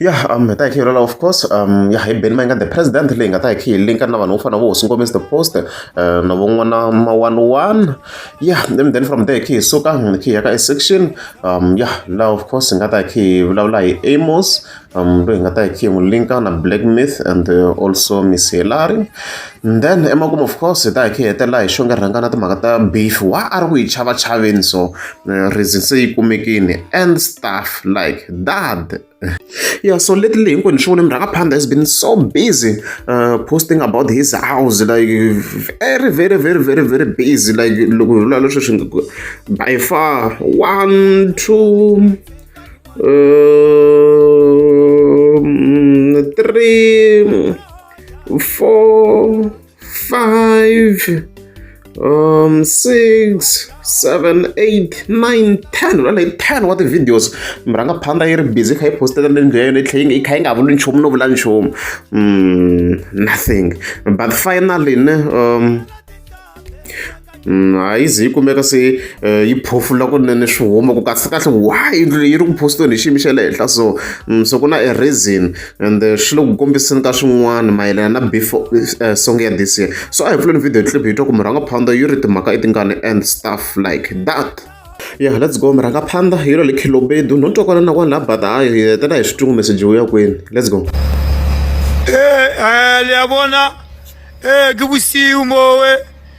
ya um hi ta hi khiyelela of course um ya hi beni ma yi nga the president leyi nga ta hi khiyi linka na vanhu vo fana vo hosi ngomisi the post eh, na van'wana ma one one ya then then from there khiyi suka hi khiyi ya ka section um ya la of course hi nga ta hi khiyi vulavula hi amos um loyi hi nga ta hi khiyi n'wi linka na black myth and eh, also miss helari then emakumu of course hi ta hi khiyi hetelela hi xonge rhanga na timhaka ta beef wa a ri ku yi chava chaveni so Eh, reason se yi kumekini and stuff like that yeah so lately hinkwenu swi vone murhangaphandla has been so busy uh, posting about his house like very very very very very busy like loko hi vula leswi swi by far one two um, three four five um six seven eight nine ten ra like ten wa ti-videos mi rhanga phanda yi ri busy kha yi postela le ndlu ya yona yi tlhe yi kha yi nga vuli nchumu no vula nchumu mm, nothing but finally ne um Mm, a yi ze yi kumeka se eh, yi phofula kunene swi huma ku kasi kahle wa yindlu leyi yi ri ku posteni hi xiyimo xa le henhla so mm, so ku na a reason and eh, swi le ku kombiseni ka swin'wana mayelana na before eh, song ya this year so a hi pfuleni video clip hi twa ku murhanga phanda yi ri timhaka i tingani and stuff like that ya yeah, let's go murhanga phanda yi ri le khilobedu no twakwana na kwani la bata a hi hetela hi switungu meseji wu ya kwini let's go e um liyabona um ke bosiu mowe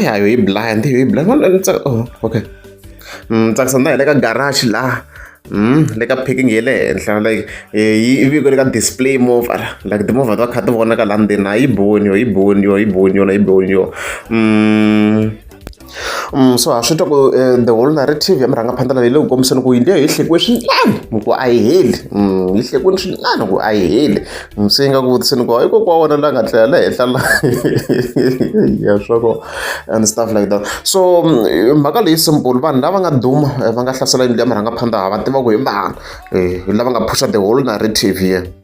ya yo yi blind yo yi blind wala ni tsaka oh okay mm tsaka sanda le ka garage la mm le ka picking yele henhla like yi ivi ku le ka display move ala like the move va kha ti vona ka la ndzeni a yi boni yo yi boni yo yi boni yona yi boni yo mm so ha swi twa ku um the whole narrative ya murhangaphandla leyi le ku kombiseni ku yindlu ya hi hlekiwe swinene ku a yi heli mm, yi hlekiwini swinene ku a yi heli mm, se yi nga ku vutiseni ku hikuva kwa wona la nga tlela la henhla la ya swako and stuff like that so mm, mhaka leyi simple vanhu lava nga duma eh, va nga hlasela yindlu ya murhangaphandla ha va tiva ku hi mbana um eh, lava nga phusha the whole narrative here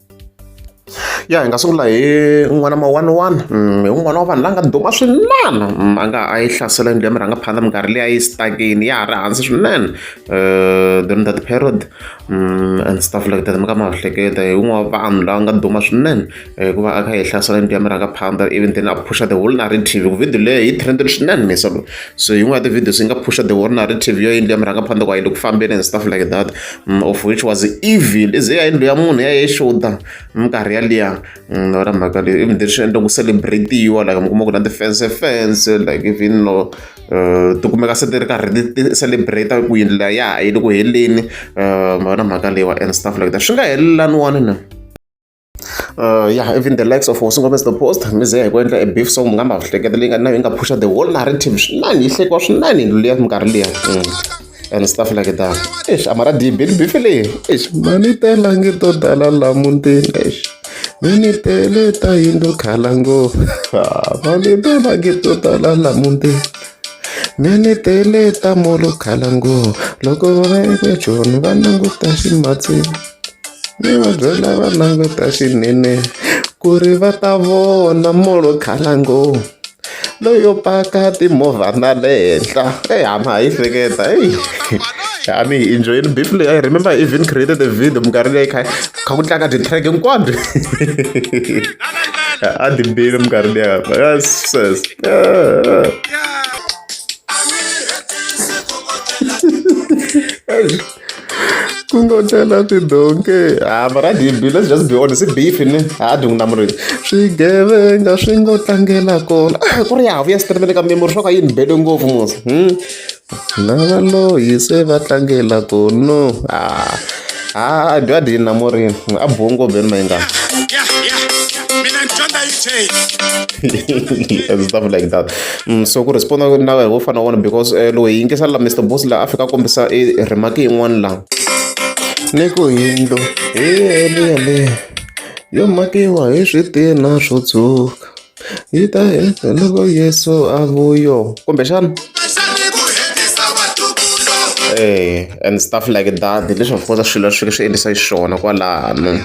ya hi nga sungula hi n'wana ma one one mm, hi un'wana wa vanhu la nga duma swinene mm, a nga a yi hlasela yindlu ya mirhangaphandla minkarhi leyi a yi stakini ya ha ri hansi swinene eh, during that period mm, and stuff like that mi ka mahleketa hi un'wana wa vanhu la nga duma swinene eh, hikuva a kha hi hlasela yindlu ya mirhangaphandla even then a phusha the whole narrative ku video leyi yi trended swinene misa so yin'wana ya ti-videos yi nga phusha the whole narrative yo yindlu ya mirhangaphandla ku a yi le ku fambeni and stuff like that Mm, of which was evil is ya yindlu ya munhu ya yexuta minkarhi yaliya mm, ra mhaka leyi even leswi endla ku celebratiwa like mi kuma ku na ti-fence fence like even no uh, ti kumeka se ti ri karhi ti celebrate ku yindlu leya ya ha yi le ku heleni uh, na mhaka leyiwa and stuff like that swi nga helelaniwani na Uh, yeah, even the likes of Hosi Gomez the Post, mize hi ku endla a beef song ngamba hleketa leyi nga na yi nga pusha the whole narrative swinene yi hlekiwa swinene hi liya minkarhi liya mm. and stuff like that eish amara dibeli beef leyi eish mani tela nge to dala la muntini eish mini tele ta yindlu khala ngopfu ah, mani tela nge to dala la muntini mini tele ta molo khala ngopfu loko va ve joni va languta ximatsini ni va byela va languta swinene ku ri va ta vona molo khalango loyo paka timovha na le henhla e hama hi hleketa eyi I mean, enjoying Bible. I remember I even created a video. Mkarhi leyi kha kha ku tlanga ti-track hinkwabyo. A ti bile mkarhi leyi. Yes, yes. Yeah. kungotela tidonki ha ah, mara dibi let's just be honest i beef ni ha ah, dungu na murimi swigevenga swi ngo tlangela kona ah, ku ri ya vuya sitirimele ka memori swa ka yini bele ngopfu musa hmm? na valoyi se va tlangela kono ha ha dwa dini na murimi a bongo beni mayingana and stuff like that. Mm, so ku respond na wehe wo fana wona because eh, loyi yingisela la mr boss la a fika kombisa i eh, remaki yin'wana la ni ku yindlo hi yeleyeleyo yo makiwa hi switina swo tshuka yi ta loko yesu a vuyo kumbexana eh and stuff like that leswi of course swilo swi swi endlisa xiswona kwalano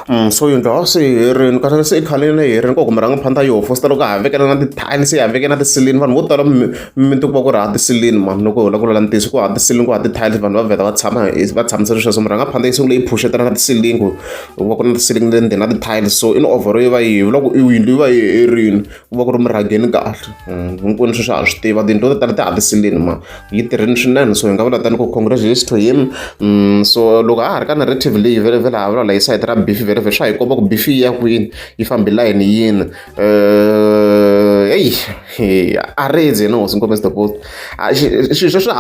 Mm, so yindlu a swi herini kasi se i khaleni leyi herini ku kumbe rhangaphanda yo fositela ku havekela na ti-tiles ya havekela na tisilini vanhu vo tala mimiti ku va ku ri ha tisilini mani loko hi la ku lula ntiyiso ku ha tisilini ku ha ti-tiles vanhu va vheta va tshama va tshamisele sweswo murhangaphanda yi sungule yi phuxetela na tisilini ku ku va ku ri na tisilini le ndzeni na ti-tiles so in overo yi va yi hevi loko yindlu yi va yi herini ku va ku ri murhangeni kahle mm, hinkwenu sweswi ha swi tiva tiyindlu to tala ti ha tisilini mani yi tirhini swinene so hi nga vula tani ku congratulations to him mm, so loko a ha ri ka narrative leyi vele vele ha vula la yi sayiti ra bifi vele vele swa hi komba ku bifi yi ya kwini yi fambi layini yini eh, eyi a redzi yena hosi nkombesi the post swilo sweswi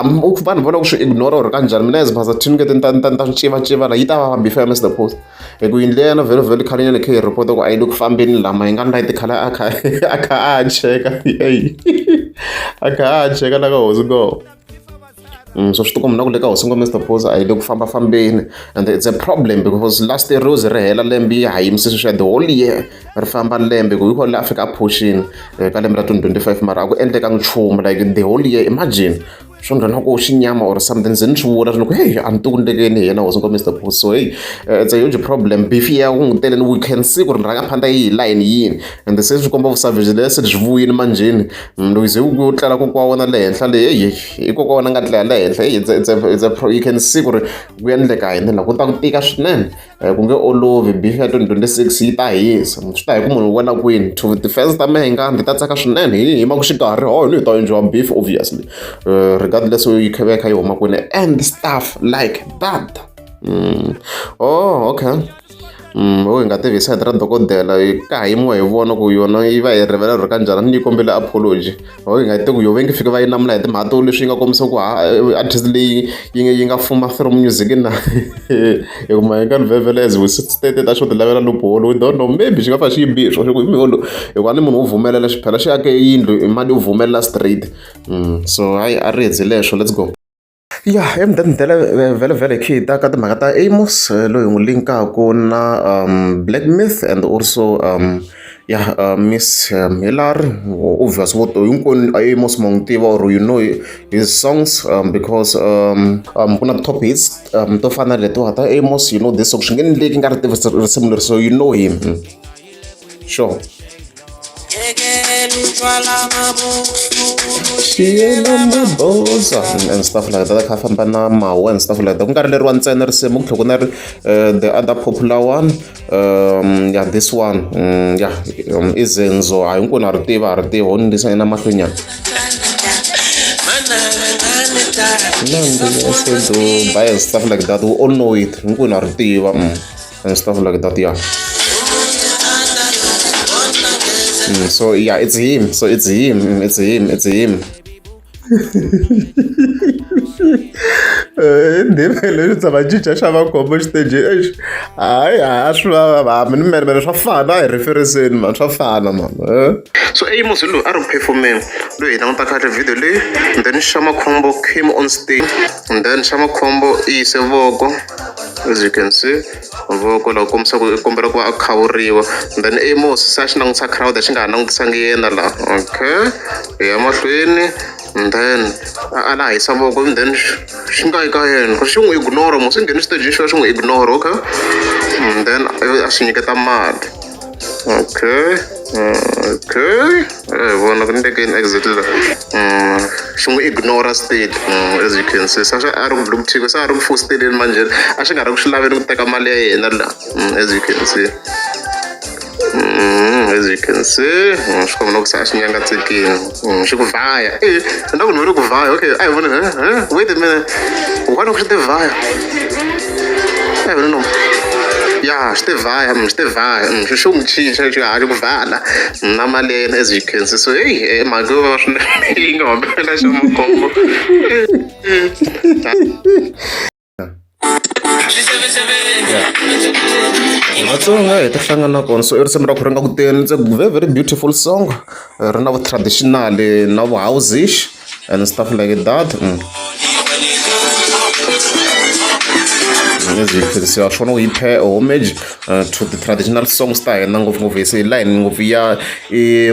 vanhu vona ku swi ignora or kanjhani mina as phasa thinukete ni ta ni ta ni ta swi civaciva la yi ta vava bifi ya mr post Hi ku yindlu liya ya Lovely Lovely khalenyana hi kha hi yi report-a ku a yi le ku fambeni laha ma hi nga light khale a kha a kha a ha cheka a kha a ha cheka la ka hosi ngo so swi tikomba na ku le ka hosi ngo Mister Phoza a yi le ku famba fambeni and it's a problem because last year rose ri hela lembe yi ha yimise sweswi ya the whole year ri famba lembe ku hi kona laha Afrika a phuxini ka lembe ra 2025 mara a ku endlekanga nchumu like the whole year imagine swo nghena ku xinyama or something ze ni swi vula swi ni ku heyi a ni ti ku ndlekeni hi yena was ngo mr bull so heyi eh, it's a huge problem beef ya ku n'wi teleni we can see ku ri rhanga phanda yi hi layini yini and se swi komba vusavage le se byi vuyini manjheni mm, loko ze u tlela ku kwa wona le henhla le heyi i kokwa wona nga tlela le henhla heyi it's a, it's a, it's a pro, you can see ku ri ku endleka hi ndlela ku ta ku tika swinene ku nge olovi bifi ya 2026 yi ta hisa swi ta hi ku munhu u wela kwini to defense ta mehe nga ndzi ta tsaka swinene hi hi maku xikarhi ho ni hi ta endliwa beef obviously uh, regardless yi kheve kha yi huma kwini and stuff like that mm. oh okay Mm, o hi nga tivi side ra dokodela ka ha yimiwa hi vona ku yona yi va yi rivela ri ka njhani ni yi kombela apology or ingathi ku yo va nge fike va yi namula hi timhaka to leswi yi nga kombisa ku artist leyi yi nga yi nga fuma through music na hikuma yi nga livevele as we state ta xo ti lavela loophole we don't know maybe xi nga fa xi yi bihi swona hi miholo hikuva ni munhu wo vumelela xi phela xi ake yindlu mali yo vumelela straight mm, so hayi a ri hezi leswo let's go Ya i mudendetela vhelavhela hi kha hi ta ka timhaka ta Amos loyi hi n'wi link-aku na black myth and also ya miss Hillary obvious vo to hinkwenu a Amos ma n'wi tiva or you know his songs because ku na top hits to fana na letiwa ta Amos you know this song swi nge ni leki nga ri tivi risimu leri so you know him. Show. and stuff like that kha famba na mawa and stuff like that ku nga ri leriwa ntsena risimu ku tlhe ku na ri eh, the other popular one um yeah this one um, yeah um, i zenzo hayi nku na ri tiva a ri tiva ho ni ndisa yena mahlwenyana Nandi, Sedu, Bias, stuff like that. We all know it. Nkuna Rtiva. Mm. and stuff like that yeah mm, so yeah it's him so it's him mm, it's him it's him ndivele swi tshama cinca xa makhombo xiteji exi hayi ha swi vava mi ni mene mene swa fana hi referiseni mani swa fana mani eh? so amos hi loyi a ri ku phefomeni loyi hi languta kahle video leyi then xa makhombo came on stage then xa makhombo i yise voko as you can see mavoko lawa kombisa ku i kombela ku va a khawuriwa then i mo susa xi langutisa crowd xi nga ha langutisanga yena la okay hi ya mahlweni and then a a la hisa voko and then xi nga yi ka yena ku ri xi n'wi ignore mo swi nghene xiteji xo xi n'wi ignore okay and then a swi nyiketa mali. okay uh, okay eh, vona ku ndeke in exit la mm, xi n'wi ignora state mm, as you can see sa a ri ku dlukuthiku sa a ri ku fosteleni manjheni a xi nga ri ku swi laveni ku teka mali ya yena la mm, as you can see as you can see swi kombela ku se a xi nyangatsekini Mm, swi ku vhaya e swi ku nhuri ku vhaya okay a hi vona wait a minute wani ku swi te vhaya a hi vona no ya swi te vhaya mm, swi te vhaya mm, swi xo n'wi cinca xi ha xi ku vhala na mali ya yena as you can see so heyi e eh, mhaka yo va swinene yi nga humelela xa makhombo vatsonga hi ta hlangana na kona so i risimu ra ku ri nga ku teni it's a very very beautiful song ri na vu-traditional na vu-housish and stuff like that mm. siwa swona u yi phe homage uh, to the traditional songs ta hina ngopfungopfu hi se hi layini ngopfu ya i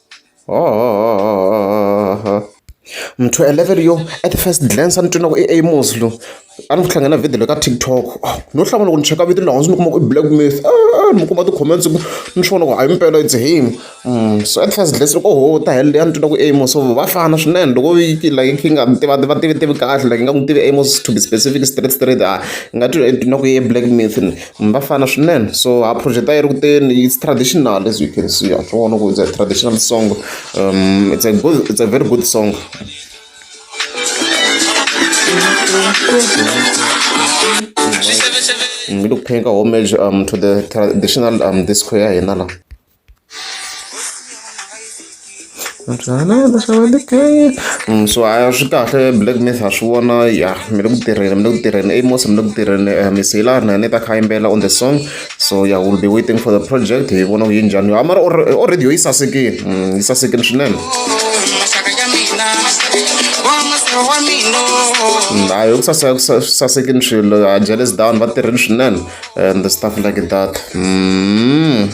Mntu a level yo at first glance a ni twa ingaku i Amos loyi. A ni ku tlangela video leyi ka TikTok no hlangana loko ni cheka video leyi hansi ni kuma ku i Black myth ni ku kuma ti-comments ku ni swi vona ku hayi impela it's him. Se at first glance loko oho u ta helo leyi a ni twa ingaku i Amos so va fana swinene loko yi ri like yi nga tiva va tivitivi kahle like ingaku ni tive Amos to be specific straight straight hayi ni nga titwa ingaku i Black myth. va fana swinene so ha project-a yi ri kuteni it's traditional as you can see ha swi vona ku it's a traditional song it's a good it's a very good song ngi lokuphenka homage um to the traditional um disco ya hina la so a swi kahle black mirror ha swi vona ya mi le ku tirheni mi le ku tirheni amos mi le ku tirheni eh, mi siyela na ni ta kha yimbela on the song so ya will be waiting for the project hi vona ku yi njhani yo mara already yo yi sasekile mm, yi sasekile swinene hayi ukusasekini swilo jealous down va tirheni swinene and stuff like that mm.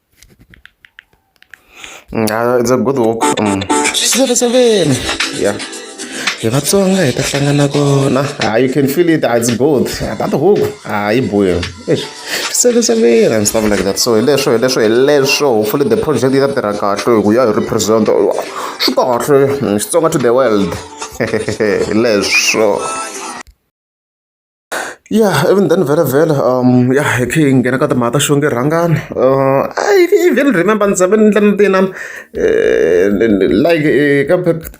Uh, it's a good walk. Mm. Seven, seven. Yeah. hi vatsonga hi ta hlangana kona ha you can feel it it's good that huku ha yi boya sekesevela and stuff like that so hi leswo hi leswo hi leswo hopefully the project yi ta tirha kahle hi ku ya hi represent swi kahle xitsonga to the world hi leswo Ya even then vhelavhela ya hi kha hi nghena ka timhaka ta xivongo i rhangana i even remember ni tshame ni endla na tinana like ka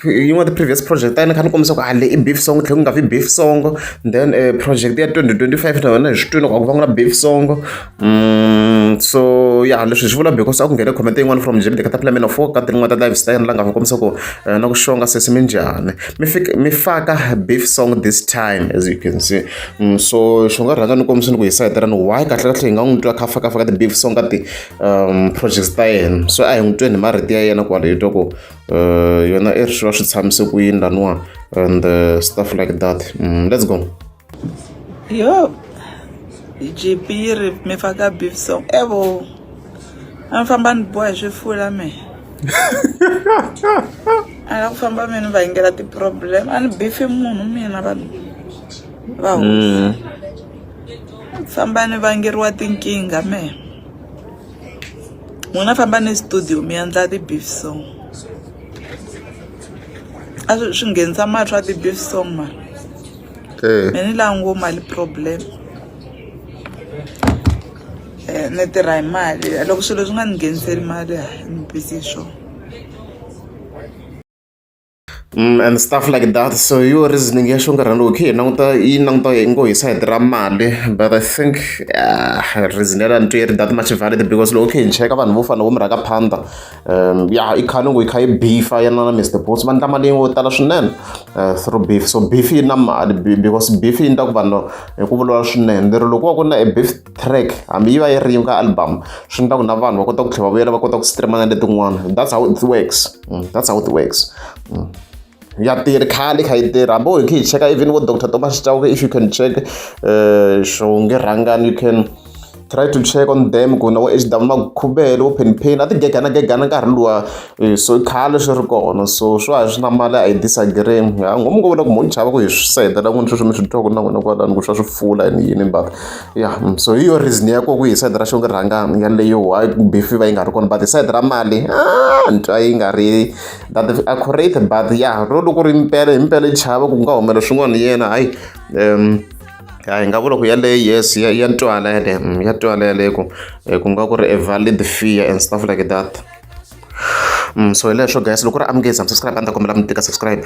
yin'wana ti-previous project ta yena ni kha ni kombisa ku a leyi i beef song tlhela ku nga vi beef song then project ya twenty twenty five na yona hi swi twile ku a ku va ku ri na beef song. Mm, so ya leswi hi swi vula because a ku nghene comment yin'wana from jebide ka ta plan of ka tin'wana ta live style la nga va kombisa ku eh, na ku xonga sesi mi njhani mi fika mi faka beef song this time as you can see mm, so xo nga rhanga ni kombisa ni ku hi sayetelani why kahle kahle hi nga n'wi twa kha faka faka ti beef song ka ti um projects ta yena so a hi n'wi tweni hi marito ya yena kwale hi twa ku eh, yona i ri swi va swi tshamise ku yini laniwa and eh, stuff like that mm, let's go yo gp yi ri mi faka beef song evo a mi famba ni boha hi swifula me a la ku famba mi ni va yingela ti-problem a ni bifi munhu mina vanhu va mm. famba ni vangeriwa tinkingha me n'wina famba ni studio mi endla ti-beef song a swi nghenisa mali swa ti-beef song mara eh. ni la ngo mali problem eh, ni tirha hi mali loko swilo swi nga ni ngheniseli mali a ni busy hi swona Mm, and stuff like that so yo reasoning ya xongarhani loko khe hi languta yi languta yi ngo hi side ra mali but i think uh, reason ya la ni twi yi ri that much valid because loko khe hi cheka vanhu vo fana vo mi rhaka phanda um ya i khale ngo yi kha yi beefa yena na mr bots va ndla mali yo tala swinene eh, through beef so beef yi na mali because beef yi ndla ku vanhu hi ku vulavula swinene lero loko va ku na a beef track hambi yi va yi ri ka album swi ndla ku na vanhu va kota ku tlhela va vuyela va kota ku streama na letin'wana that's how it works mm, that's how it works mm. ya tirhi khale yi kha yi tirha hambi wo hi kha hi cheka even vo doctor thomas chauke if you can check um xonge rhangani you can try to check on them ku na vo h w makhubelo vo penpain a ti gegana gegana nkarhi luwa eh, so khale swi ri kona so swa hi swi na mali a hi disagree ha ngomu ko vona ku mo ni chava ku hi swi setela n'wini sweswi mi swi twa ku na n'wina kwalani ku swa swi pfula ni yini but ya mm, so hi yo reason ya ko ku hi side ra xonge rhangani yaleyo why bifi va yi nga ri kona but hi side ra mali a ah, ni twa yi nga ri that is accurate but ya ro loko ri mpela hi mpela i chava ku nga humela swin'wana hi yena hayi um ya hi nga vula ku yaleyo yes ya ya twala yaleyo mm, ya twala yaleyo ku eh, ku nga ku ri a valid fear and stuff like that mm, so hi leswo guys loko ri amukezi am subscribe a ni ta kombela mi tika subscribe